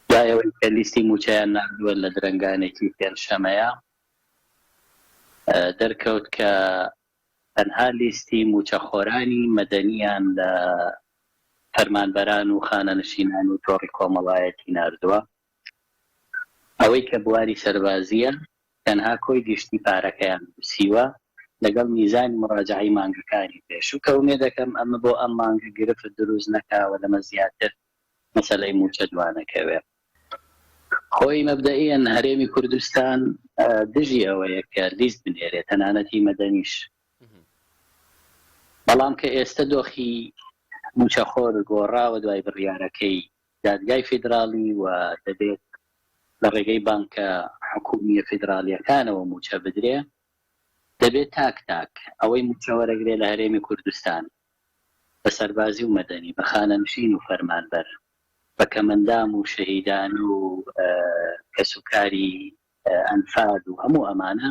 دوای ئەوەی کە لیستی مووچەیان ناردووە لە درەنگانێکی پێنجشەمەیا دەرکەوت کە تەنها لیستی مووچەخۆرانی مەدەنییان لە فەرمانبەران و خانەنشینان و تۆڕی کۆمەڵایەتی ناردووە ئەوەی کە بواری سەربازییە تەنها کۆی گشتی پارەکەیان نووسیوە لەگەڵ میزانی مڕاجعەی مانگەکانی پێشوو کە ئومێدەکەم ئەمە بۆ ئەم مانگە گرفت دروست نەکا و لەمە زیاتر مەسەلەی مووچە دوانەکەوێ. خۆی مەبدەئیەن هەرێمی کوردستان دژی ئەوەیە کە لیست بنێرێ تەنانەت هی مەدەنیش. بەڵام کە ئێستە دۆخی مووچەخۆر گۆڕاوە دوای بڕیارەکەی دادگای فیدراڵی و دەبێت لە ڕێگەی بانکە حکوومییە فیدراڵییەکانەوە مووچە بدرێ، دەبێ تاک تاک ئەوەی مووچە وەرەگرێ لە هەرێمی کوردستان بە سەربازی و مەدەنی، بە خانەنشین و فەرمانبەر، بە کەمەندام و شەهیدان و کەسوکاری ئەنفال و هەموو ئەمانە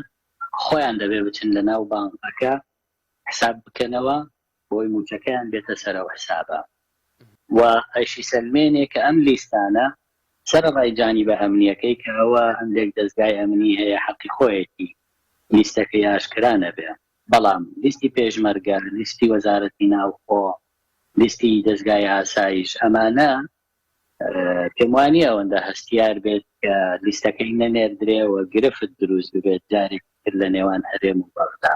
خۆیان دەبێ بچن لە ناو بانکەکە حساب بکەنەوە بۆی موچەکەیان بێتە سەر ئەو حسابە و ئەیشیسەلمێنێ کە ئەم لیستانە سەرەڕای جانیبە ئەمنیەکەی کە ئەوە هەندێک دەزگای ئەمنی هەیە حەقی خۆیەتی لیستەکەی ئاشکرا نەبێ. بەڵام لیستی پێشمەرگە، لیستی وەزارەتی ناوخۆ، لیستی دەزگای ئاسایش ئەمانە پێم وانیە ئەوەندە هەستیار بێت کە لیستەکەی نەنێردرێ و گرفت دروست ببێت جارێکی تر لە نێوان هەرێم و بەغدا.